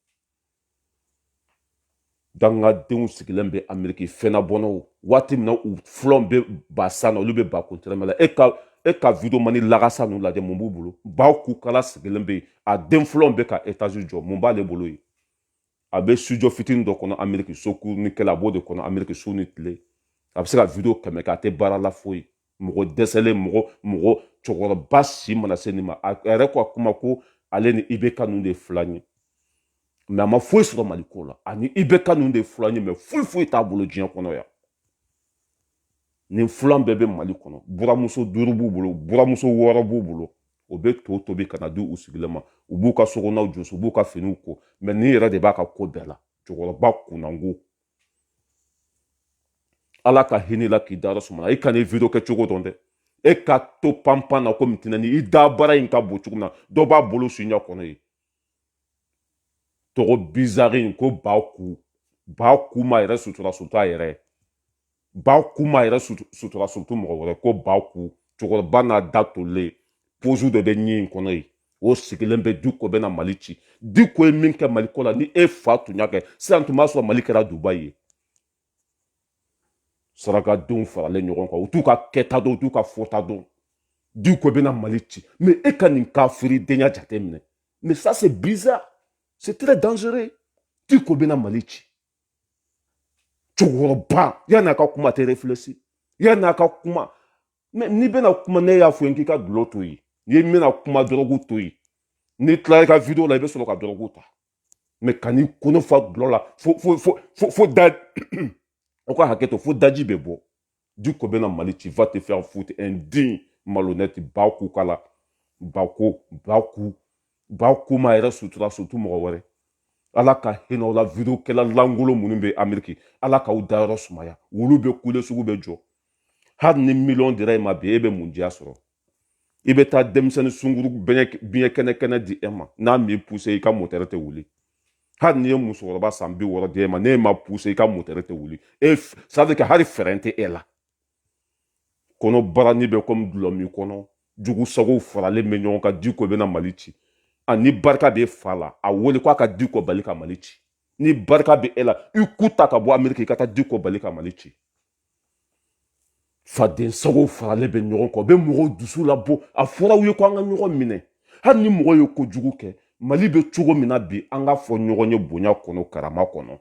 dangadenw sigilen bɛ ameriki fɛnna bɔnnaw waati min na u fulanw bɛ ba san na olu bɛ ba kun tɛrɛmɛ la e ka e ka videomani lagasa ninnu lajɛ mun b'u bolo ba kukala sigilen bɛ yen a den fulanw bɛ ka etazi jɔ mun b'ale bolo yen a bɛ studio fitinin dɔ kɔnɔ ameriki so kurunin kelen a b'o de kɔnɔ ameriki su ni tile a bɛ se ka video kɛmɛ kɛ a tɛ baara la foyi mɔgɔ dɛsɛlen mɔgɔ mɔgɔ cɛkɔrɔba si mana se nin ma a yɛrɛ ko a kuma ko ale ni ibk ninnu de fulan ye mɛ a ma foyi sɔrɔ mali ko la ani ibk ninnu de fulan ye mɛ foyi foyi t'a bolo diɲɛ kɔnɔ yan nin fulan bɛɛ bɛ mali kɔnɔ buramuso duuru b'u bolo buramuso wɔɔrɔ b'u bolo o bɛ to tobi ka na di u sigilen ma u b'u ka sokɔnɔw jɔsi u b'u ka finiw ko mɛ nin yɛrɛ de b'a ka ko bɛɛ la cɛkɔrɔba kunnango ala ka hinɛ la k'i dayɔrɔ suma i kana video kɛ cogo dɔn dɛ e ka to panpan na komi tinɛni i dabara in ka bon cogo min na dɔ b'a bolo suɲɛ kɔnɔ ye tɔgɔ bizari in ko ba ku ba ku ma yɛrɛ sutura surtout a yɛrɛ ba ku ma yɛrɛ sutura surtout mɔgɔ wɛrɛ ko ba ku cɛkɔrɔba n'a da tolen pozu de bɛ ɲi in kɔnɔ yen o sigilen bɛ diko bɛna mali ci diko ye min kɛ mali ko la ni e fa tun y'a kɛ sisan tun b'a sɔrɔ mali kɛra dubayi ye sarakadenw faralen ɲɔgɔn kan u t'u ka kɛta dɔn u t'u ka fɔta dɔn diko bɛna mali ci mɛ e ka nin kafiridenya jate minɛ mɛ ça c'est bizarre c'est très dangereux diko bɛna mali ci cɛkɔrɔba yanni a ka kuma tɛ refilɛsi yanni a ka kuma mɛ n'i bɛna kuma ne y'a fɔ i ye k'i ka dulɔ to yen n'i bɛna kuma dɔrɔgu to yen n'i tilala i ka video la i bɛ sɔrɔ ka dɔrɔgu ta mɛ kan'i kɔnɔ fa dulɔ la fo fo fo fo fo da aw ka hakɛ to fo daji bɛ bɔ diko bɛna mali ci va te faire foutre indigne malhonnête ba kukala ba ku ba ku ba ku ma yɛrɛ sutura surtout mɔgɔ wɛrɛ ala ka hinɛ la video kɛla langolo minnu bɛ ameriki ala k'aw dayɔrɔ sumaya wulu bɛ kule sugu bɛ jɔ hali ni miliyɔn dira e ma bi e bɛ mun diya sɔrɔ i bɛ taa denmisɛnnin sungurun biyɛ kɛnɛ kɛnɛ di e ma n'a m'i puse i ka motɛrɛ tɛ wuli hali n'i ye musokɔrɔba san bi wɔɔrɔ di e ma n'e ma puse i ka motɛrɛ tɛ wuli ça veut dire que hali fɛɛrɛ tɛ e la kɔnɔbarani bɛ komi dulɔ min kɔnɔ jugusagow faralen bɛ ɲɔgɔn kan diko bɛna mali ci a ni barika b'i fa la a wele k'a ka diko bali ka mali ci ni barika bɛ e la i ku ta ka bɔ ameriki i ka taa diko bali ka mali ci fadensago faralen bɛ ɲɔgɔn kan u bɛ mɔgɔw dusu labɔ a fɔra u ye ko an ka ɲɔgɔn minɛ hali ni mɔgɔ ye kojugu kɛ mali bɛ cogo min na bi an k'a fɔ ɲɔgɔn ye bonya kɔnɔ karama kɔnɔ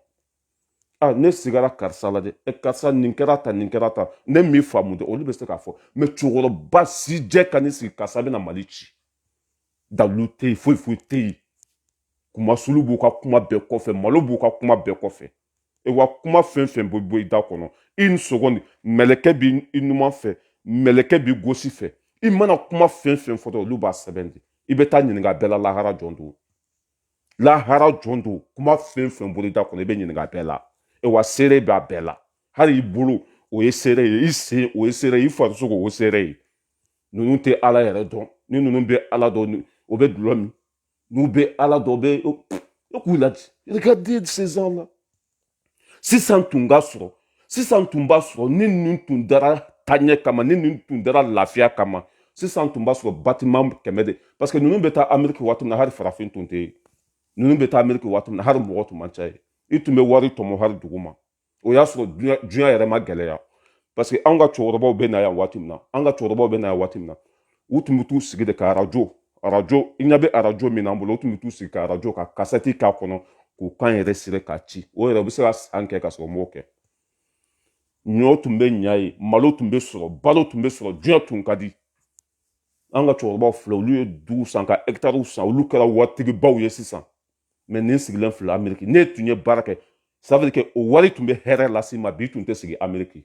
a ne sigara karisa la dɛ e karisa nin kɛra tan nin kɛra tan ne m'i faamu dɛ olu bɛ se k'a fɔ mais cɛkɔrɔba sijɛ ka n'i sigi karisa bɛna mali ci dalu tɛ yen foyi foyi tɛ yen kunmasuli b'u ka kuma bɛɛ kɔfɛ malo b'u ka kuma bɛɛ kɔfɛ e wa kuma fɛn fɛn bɛ bɔ i da kɔnɔ une seconde mɛlɛkɛ b'i numan fɛ mɛlɛkɛ b'i gosi fɛ i mana kuma fɛn fɛn fɔ olu b'a sɛbɛn de i bɛ taa ɲininka bɛɛ la lahara jɔ don lahara jɔ don kuma fɛn fɛn bɔra i da kɔnɔ i bɛ ɲininka bɛɛ la e wa seere b'a bɛɛ la hali i bolo o ye seere ye i sen o ye seere ye i farisogo o ye seere ye ninnu tɛ ala yɛrɛ dɔn ni ninnu bɛ ala dɔn o bɛ dulɔ min n'u bɛ ala dɔn bɛ e k'u lajɛ regardez ces gens là sisan tun ka sɔrɔ sisan tun b'a sɔrɔ ni ninnu tun dara taɲɛ kama ni ninnu tun dara lafiya kama sisan tun b'a sɔrɔ batiman kɛmɛ de parce que ninnu bɛ taa ameriki waati min na hari farafin tun tɛ yen ninnu bɛ taa ameriki waati min na hari mɔgɔ tun man ca yen i tun bɛ wari tɔmɔ hari dugu ma o y'a sɔrɔ diɲɛ yɛrɛ ma gɛlɛya parce que anw ka cɛkɔrɔbaw bɛ na yan waati min na an ka cɛkɔrɔbaw bɛ na yan waati min na u tun bɛ t'u sigi de ka arajo arajo i ɲɛ bɛ arajo min na an bolo u tun bɛ t'u sigi ka arajo ka kasɛti k'a kɔnɔ k'u kan enregistrer k'a ci o yɛrɛ u bɛ se ka san kɛ ka sɔrɔ u m'o kɛ ɲɔ tun bɛ ɲa yen malo tun bɛ sɔrɔ balo tun bɛ sɔrɔ diɲɛ tun ka di an ka cɛkɔrɔbaw filɛ olu ye duw san ka hɛkitariw san olu kɛra waritigibaw ye sisan mais nin sigilen filɛ ameriki n'e tun ye baara kɛ ça veut dire que o wari tun bɛ hɛrɛ lase i ma bi tun tɛ sigi ameriki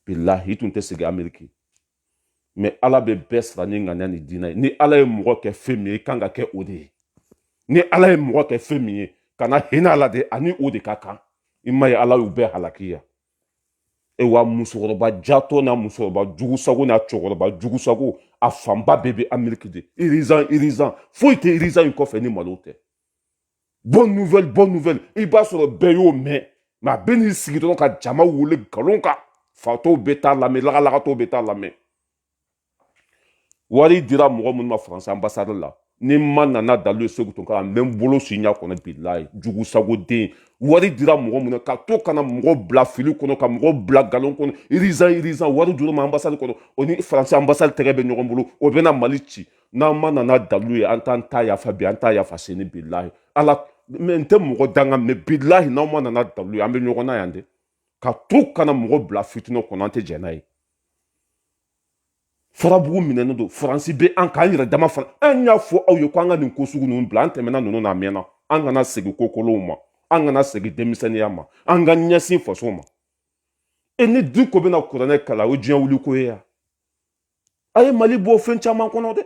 bilahi i tun tɛ sigi ameriki mais ala bɛ bɛɛ sara n'i ŋaniya n'i diinɛ ye ni ala ye mɔgɔ kɛ fɛn min ye i kan ka kɛ o de ye ni ala ye mɔgɔ kɛ fɛn min ye kana hinɛ a la dɛ a ni o de ka kan i m'a ye ala y'u bɛɛ halaki yan e wa musokɔrɔba jatɔ n'a musokɔrɔba jugusago n'a cɛkɔrɔba jugusago a fanba bɛɛ bɛ ameriki de urgent urgent foyi tɛ urgent in kɔfɛ ni malo tɛ bonne nouvelle bonne nouvelle i b'a sɔrɔ bɛɛ y'o mɛn mais a bɛ n'i sigi dɔrɔn ka jama wele nkalon kan fatɔw bɛ taa lamɛn lagalagatɔw bɛ taa lamɛn wari dira mɔgɔ minnu ma faransi anbasadi la ni n ma na n'a dalu ye segu tun kan n bɛ n bolo su i ɲa kɔnɔ bilayi jugu sago den wari dira mɔgɔ minnu ka to ka na mɔgɔ bila fili kɔnɔ ka mɔgɔ bila galon kɔnɔ irizan irizan wari dir'a ma anbasadi kɔnɔ o ni faransi anbasadi tɛgɛ bɛ ɲɔgɔn bolo o bɛna mali ci n'an ma na n'a dalu ye an t'an t'a yafa bi an t'a yafa sini bilayi ala mɛ n tɛ mɔgɔ danga mɛ bilayi n'an ma na n'a dalu ye an bɛ ɲɔgɔn na yan de ka to ka na mɔgɔ bila fitinɛ kɔnɔ an tɛ jɛn n'a ye farabugu minɛnen don faransi bɛ an k'an yɛrɛ dama fana an y'a fɔ aw ye ko an ka nin ko sugu ninnu bila an tɛmɛna ninnu na mɛnna an kana segin ko kolonw ma an kana segin denmisɛnninya ma an ka ɲɛsin faso ma e ni diko bɛna kuranɛ kalan o diɲɛ wuli ko ye yan a ye mali bɔ fɛn caman kɔnɔ dɛ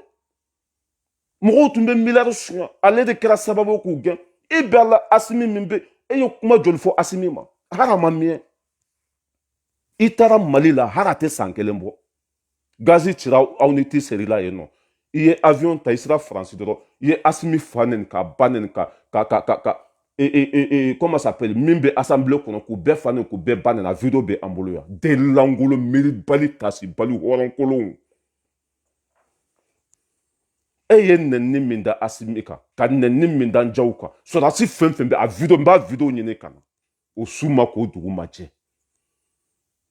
mɔgɔw tun bɛ miliyari suɲɛ ale de kɛra sababu ye k'u gɛn e bɛ a la asimi min bɛ e ye kuma joli fɔ asimi ma hali a ma miyɛn i taara mali la hali a tɛ san kelen bɔ gazi cira aw ni ti serila yen nɔ i ye avion ta i sera faransi dɔrɔn i ye asimi fa neni k'a ba neni ka ka ka ka ka e e e e comment s'appelle min bɛ assemblée kɔnɔ k'u bɛɛ fa neni k'u bɛɛ ba neni a video bɛ an bolo yan den lankolon miiribali tasibali hɔrɔnkolonw e ye neni min da asimi kan ka neni min da jaw kan sɔrɔdasi fɛn fɛn bɛ a video n b'a video ɲini ka na o su ma ko dugu ma jɛ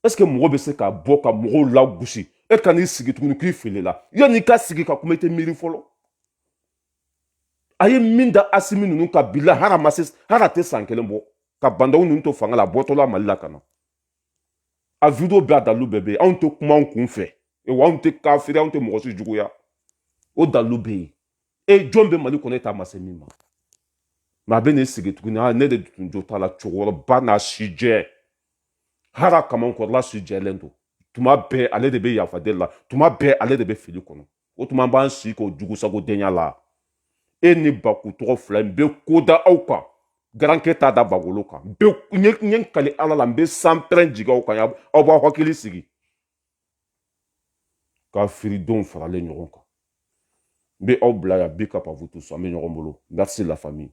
ɛseke mɔgɔ bɛ se ka bɔ ka mɔgɔw lagosi e ka n'i sigi tuguni k'i filila yanni i ka sigi ka kuma i tɛ miiri fɔlɔ a ye min da asimi ninnu kan bila hali a ma se hali a tɛ san kelen bɔ ka ba ndaw ninnu to fanga la a bɔtɔla mali la ka na a video bɛɛ a dalu bɛɛ bɛ yen anw tɛ kuma anw kun fɛ wa anw tɛ kafiri anw tɛ mɔgɔ si juguya o dalu bɛ yen e jɔn bɛ mali kɔnɔ e da ma se min ma mɛ a bɛ n'i sigi tuguni a ne de tun jo t'a la cɛkɔrɔba n'a si jɛ hali a kamankɔrɔla si jɛlen don tuma bɛɛ ale de bɛ yafa deli la tuma bɛɛ ale de bɛ fili kɔnɔ o tuma b'an si k'o jugusago denya la e ni baku tɔgɔ fila n bɛ ko da aw kan garankɛ t'a da bagolo kan n ye n kali ala la n bɛ sanpɛrɛn jigin aw kan aw b'aw hakili sigi kafiridenw faralen ɲɔgɔn kan n bɛ aw bila yan bi ka pavutu so an bɛ ɲɔgɔn bolo merci la famille